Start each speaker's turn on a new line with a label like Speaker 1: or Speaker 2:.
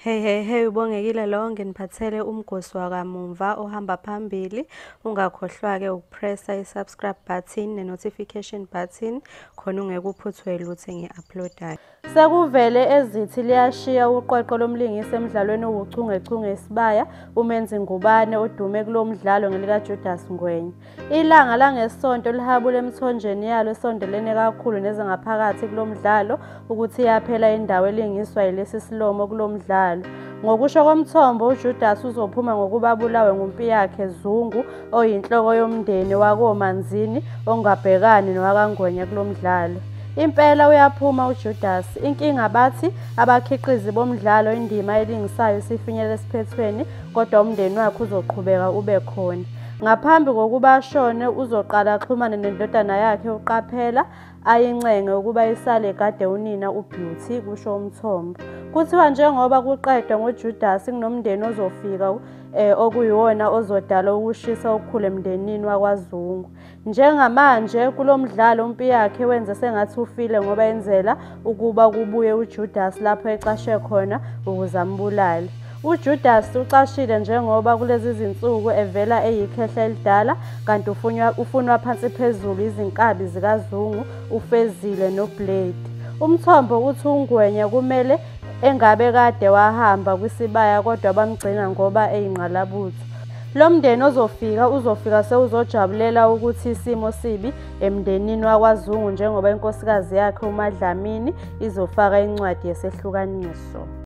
Speaker 1: Hey hey hey ubongekile lo nginiphathele umgosi wakamumva ohamba phambili ungakhohlwa ke ukupressa isubscribe button ne notification button khona ungeke uphuthwe lutho ngiuploadayo Sekuvele ezithi liyashiya uqweqwe lomlingisi emdlalweni owuchungechunge isibaya uMenzi Ngubane odume kulomdlalo ngelika Judas Ngwenya Ilanga langesonto lihabule emthonjeni yalo esondelene kakhulu nezingaphakathi kulo mdlalo ukuthi yaphela indawo elingiswa yilesi silomo kulo mdlalo. Ngokusho komthombo, uJudas uzophuma ngokuba abulawe ngumpiyakhe Zungu oyinhloko yomndeni wakoManzini ongabhekani nowakaNgwenya kulo mdlalo. Impela uyaphuma uJudas. Inkinga bathi abakhiqizi bomdlalo indima elingisayo isifinyele esiphethweni kodwa umndeni wakhe uzoqhubeka ube khona. Ngaphambi kokuba ashone uzoqala axhumane nendodana yakhe uQaphela ayincenge ukuba isale kade unina uBeauty kusho umthombo. Kuthiwa njengoba kuqedwa ngoJudasi kunomndeni ozofika eh, okuyiwona ozodala ukushisa okukhulu emndenini wakwaZungu. Njengamanje kulo mdlalo uMpiyakhe wenze sengathi ufile ngoba enzela ukuba kubuye uJudasi lapho ecashe khona ukuze ambulale. UJudasi ucashile njengoba kulezi zinsuku evela eyikhehla elidala kanti ufunwa, ufunwa phansi phezulu izinkabi zikaZungu uFezile noBlade. Umthombo uthi uNgwenya kumele engabe kade wahamba kwisibaya kodwa bamgcina ngoba eyingqalabutho. Lo mndeni ozofika uzofika sewuzojabulela ukuthi isimo sibi emndenini wakwaZungu njengoba inkosikazi yakhe uMaDlamini izofaka incwadi yesehlukaniso.